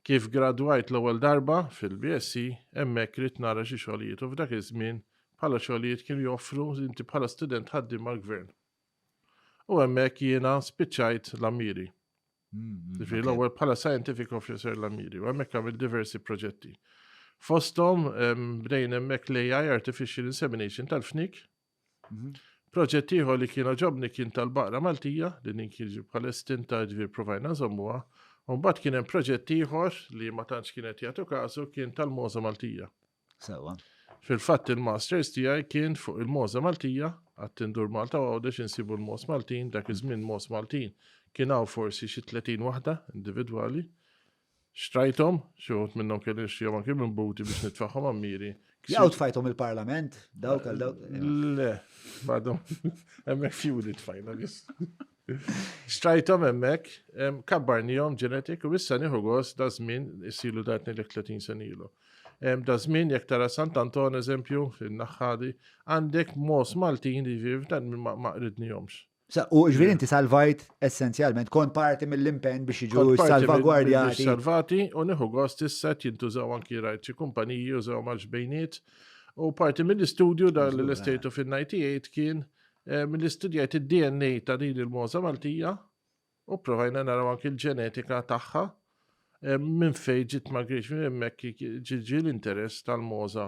Kif gradwajt l-ewwel darba fil-BSc, hemmhekk ridt nara xi xogħlijiet u f'dak iż-żmien bħala xogħlijiet kienu joffru inti bħala student ħaddiem mal-Gvern. U hemmhekk jiena spiċċajt l-ammiri. Ġifieri l-ewwel bħala scientific officer l-ammiri u hemmhekk għamil diversi proġetti. Fosthom bdejn hemmhekk l-AI Artificial Insemination tal-fnik Proġett ieħor li kien ġobni kien tal-baqra Maltija li din kien bħal estinta ġvir provajna nżommuha. Mbagħad kien hemm proġett ieħor li ma tantx kienet jagħtu kasu kien tal-Moża Maltija. Sewa. Fil-fatt il-masters tiegħi kien fuq il-Moża Maltija għat-tindur Malta għawdex insibu l-Mos Maltin, dak iż-żmien Mos Maltin kien hawn forsi xi 30 waħda individwali. Xtrajthom, xi wħud minnhom kelli nixtrihom anke minn buti biex nitfaħħom ammiri. Jaw tfajthom il-Parlament, dawk għal dawk. Le, badhom hemmhekk fjuli tfajna biss. Xtrajthom hemmhekk, kabbarnihom ġenetik u issa nieħu gost da żmien isilu datni l 30 sen ilu. Da żmien jekk tara Sant Anton eżempju fin-naħħadi, għandek mos Maltin li viv dan ma qridnihomx. U ġviri inti salvajt essenzjalment, kont parti mill-impen biex iġu salvagwardjati. Salvati u neħu gost issa jintużaw anki rajt xi kumpaniji użaw mal ġbejniet u parti mill-istudju dan l estate of in 98 kien eh, mill-istudjajt id-DNA ta' din il-moza Maltija u provajna naraw anki l-ġenetika tagħha eh, minn fejn ġiet ma griex minn hemmhekk ġiġi l-interess tal-moza